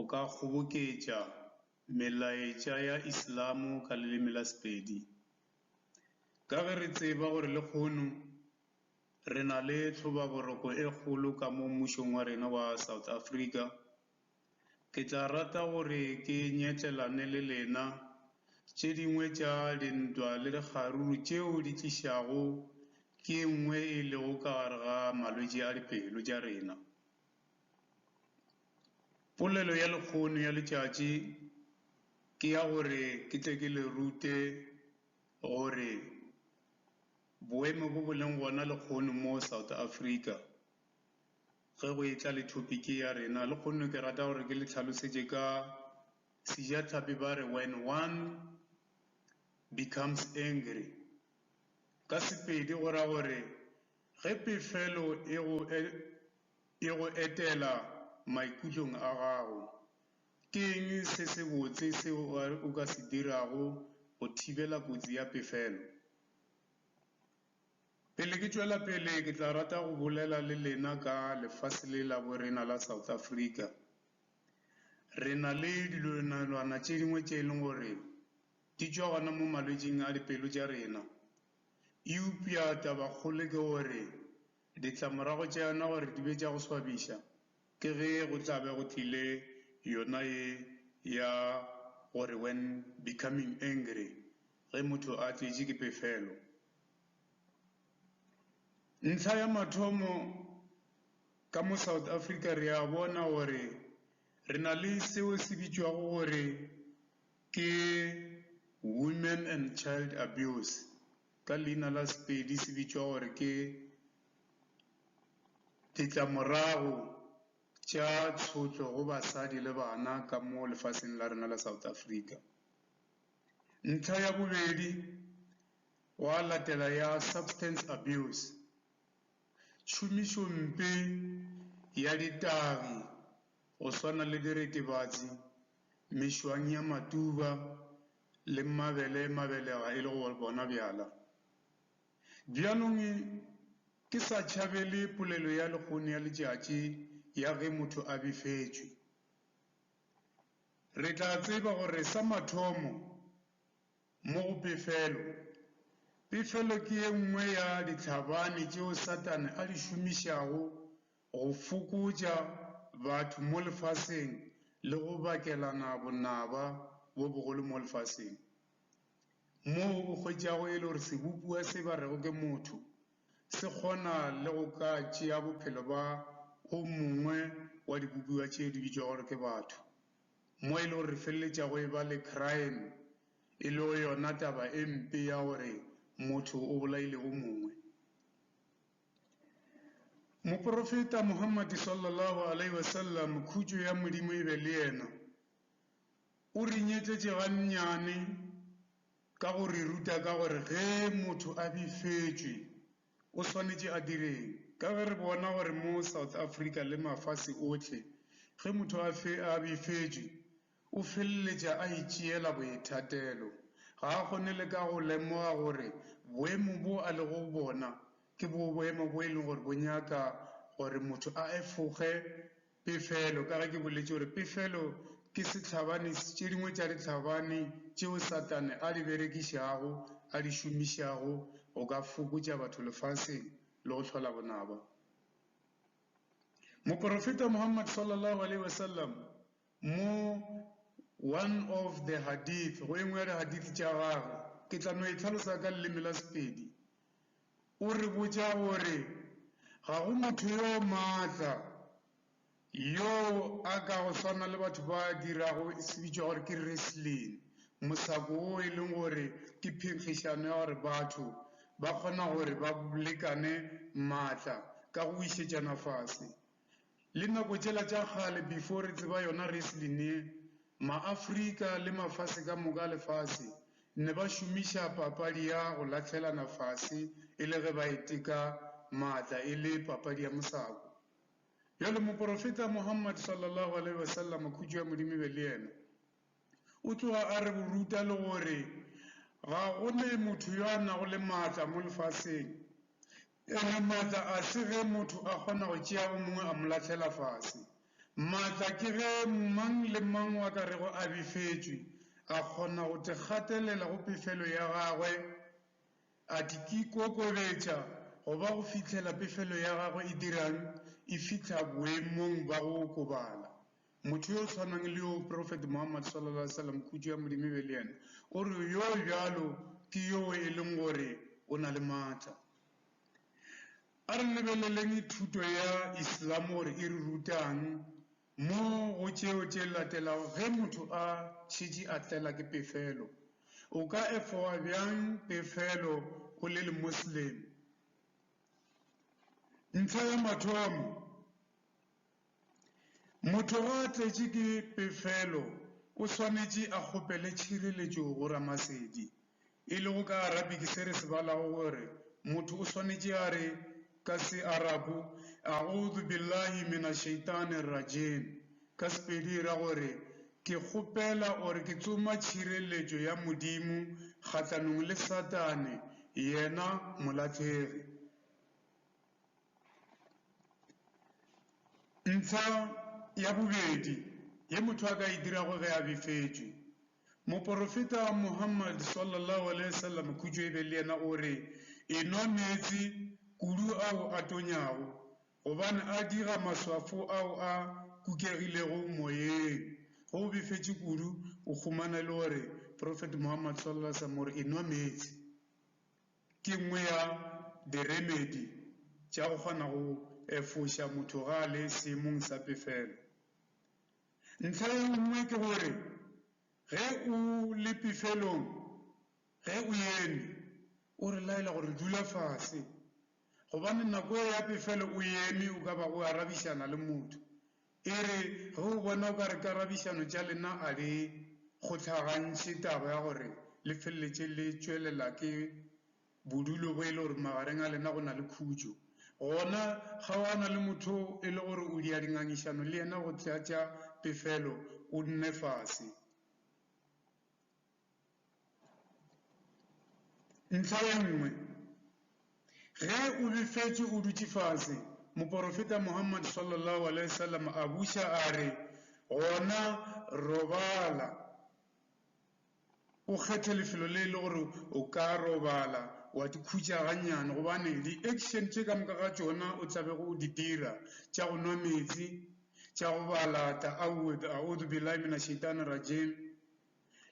O ka kgoboketša melaetša ya Islamo ka leleme la Sepedi. Ka ge re tseba gore lekgono re na le tlhobaboroko e kgolo ka mo mmušong wa rena wa South Africa, ke tla rata gore ke nyetlelane le lena tše dingwe tša dintwa le dikgaruru tšeo di tlišago ke nngwe e lego ka gare ga malwetši a dipelo tša rena. Polelo ya lekgono ya letšatši ke ya gore ke tle ke le rute gore boemo bo bo leng gona lekgono mo South Africa ge go e tla le topic ya rena. Lekgono ke rata gore ke le tlhalosetše ka sejatlhapi ba re when one becomes angry ka Sepedi go ra gore ge pefelo e go . e go etela maikutlong a gago. Ke eng se sebotse seo o ka se dirago go thibela kotsi ya pefelo? Pele ke tšwela pele, ke tla rata go bolela le lena ka lefase le la bo rena la South Africa. Re na le tše dingwe tše e leng gore di tšwa gona mo malwetšing a dipelo tša rena. Eupša tabakgolo ke gore Ditlamorago tša yona gore di be tša go swabiša ke ge go tla be go tlile yona ye ya gore when becoming angry, ge motho a tletše ke pefelo. Ntlha ya mathomo, ka mo South Africa re a bona gore re na le seo se bitšwago gore ke women and child abuse. ka leina la Sepedi se bitšwa gore ke Ditlamorago tša Tshotlo go Basadi le Bana ka mo Lefaseng la rena la South Africa. Ntlha ya bobedi gwa latela ya Substance Abuse, tšhomišompe ya ditagi go swana le diritibatsi, mešwang ya matuba le mmabele mabelega e le go bona bjala. Bjalong ke sa tšhabele polelo ya lekgone ya letšatši ya ge motho a befetšwe. Re tla tseba gore sa mathomo mo go pefelo, pefelo ke ye nngwe ya ditlhabane tšeo Satane a di šomišago go fokotša batho mo lefaseng le go bakelana bonaba bo bogolo mo lefaseng. Moo o hwetšago e le gore sebopiwa se ba rego ke motho se kgona le go ka tšea bophelo ba o mongwe wa dibopiwa tše di bitšwago gore ke batho, mo e le gore re feleletšago e ba le crime e lego yona taba e mpe ya gore motho o bolaile o mongwe. Moporofeta Muhammad sallallahu alaihi wasallam, khutšo ya Modimo e be le yena, o re nyetletše gannyane ka go re ruta ka gore ge motho a befetšwe o swanetše a direng. Ka ge re bona gore mo South Africa le mafase ohle ge motho a befetšwe, O feleletša a itšeela boithatelo. Ga a kgone le ka go lemoga gore boemo boo a lego go bona ke bo boemo bo e lego gore bo nyaka gore motho a efoge pefelo, ka ge ke boletše gore pefelo ke sehlabani se tše dingwe tša dihlabani tšeo Satane a di berekišago, a di šomišago go ka fokotša batho lefaseng le go hlola bonaba. Moporofeta Muhammad, Sallallahu Alaihi Wasallam, Mo one of the hadith, go engwe ya dihadith tša gagwe, ke tla no e hlalosa ka leleme la Sepedi, o re botša gore ga go motho yo maatla yo a ka go swana le batho ba dirago se bitšwa gore ke wrestling, mosako wo e leng gore ke phenkgišano ya gore batho ba kgona gore ba lekane maatla ka go wišetšana fase. Le nako tšela tša kgale before re tseba yona wrestling ye, Maafrika le mafase ka moka a lefase ne ba šomiša papadi ya go lahlelana fase e le ge ba e teka maatla e le papadi ya mosako. Bjale Moporofeta Muhammad, Sallallahu Alaihi Wasallam, khutšo ya Modimo e be le yena, O tloga a re go ruta le gore ga go ne motho yo a nago le maatla mo lefaseng, ene maatla a se ge motho a kgona go tšea o mongwe a mo lahlela fase. Maatla ke ge mang le mang wa ka rego a befetšwe a kgona go tikgatelela go pefelo ya gagwe, a tikikokobetša go ba go fihlela pefelo ya gagwe e dirang e fihla boemong ba go okobala. Motho yo o tshwanang le yo Profeta Muhammad sallallahu alaihi wasallam, khutšo ya Modimo e be le yena, o re, Yo bjalo ke yoo e leng gore o na le matla. A re lebeleleng thuto ya Islam gore e re ruta'ng mo go tšeo tše latelago, Ge motho a šetše a tlela ke pefelo, o ka e fowa bjang pefelo o le le Moslem? Ntlha ya mathomo, Motho ge a tletše ke pefelo o swanetše a kgopele tšhireletšo go Ramasedi. E lego ka Arabic se re se balago gore motho o swanetše a re ka Searabu, A'udhu Billahi Mina Shaitani Rajim, ka Sepedi e ra gore, Ke kgopela or ke tsoma tšhireletšo ya Modimo kgahlanong le Satane, yena molahlegi. Ntsha ya bobedi ye motho a ka e dirago ge a befetšwe. Moporofeta Muhammad, sallallahu alaihi wasallam, khutšo e be le yena, o re, Enwa meetse kudu ao a tonyago, gobane a diga maswafo ao a kukegilego moyeng. Ge o befetše kudu, o khumana e le gore Profeta Muhammad, sallallahu alaihi wasallam, o re, Enwa meetse. Ke nngwe ya diremedi tša go kgona go efoša motho ge a le seemong sa pefelo. Ntlha ye nngwe ke gore ge o le pefelong, ge o eme, o re laela gore dula fase, gobane nako ye ya pefelo o eme o ka ba o arabišana le motho. E re ge o bona o ka re karabišano tša lena a le kgohlagantšhe taba ya gore le feleletše le tšwelela ke bodulo bo e le gore magareng a lena go na le khutšo, gona kgaogana le motho o e le gore o dia dingangišano le yena go tlatša pefelo o nne fase. Ntlha ye nngwe, ge o befetšwe o dutše fase, moporofeta Muhammad sallallahu alaihi wasallam a buša a re, Gona robala, o kgethe lefelo le e le gore o ka robala wa di khutša gannyane gobane di action tše ka moka ga tšona o tla bego o di dira tša go nwa meetse, tša go bala .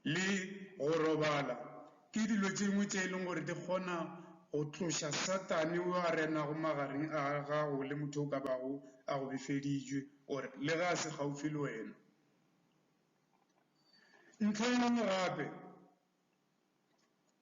le go robala ke dilo tše dingwe tše e leng gore di kgona go tloša Satane yo a renago magareng a gago le motho o ka bago a go befeditšwe or le ge a se gaufi le wena. Ntlha e nngwe gape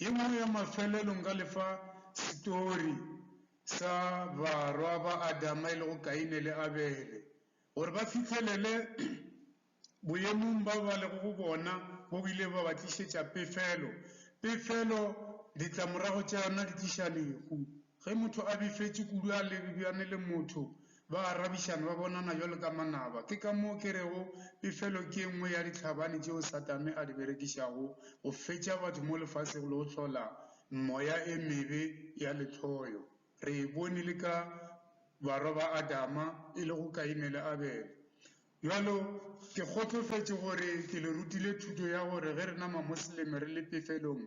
Ye nngwe ya mafelelo nka le fa setori sa barwa ba Adama e lego Kaine le Abele. Gore ba fihlelele boemong bao ba lego go bona bo bile ba ba tlišetša pefelo. Pefelo ditlamorago tša yona di tliša lehu. Ge motho a befetše kudu a lebjane le motho, ba arabišana, ba bonana bjalo ka manaba. Ke ka moo ke rego befelo ke e nngwe ya ditlhabane tšeo Satane a di berekišago go fetša batho mo lefaseng le go hlola meoya e mebe ya lehloyo. Re e bone le ka barwa ba Adama, e lego Kaine le Abele. Bjalo, ke kgotsofetše gore ke le rutile thuto ya gore ge re na Mamosleme re le pefelong,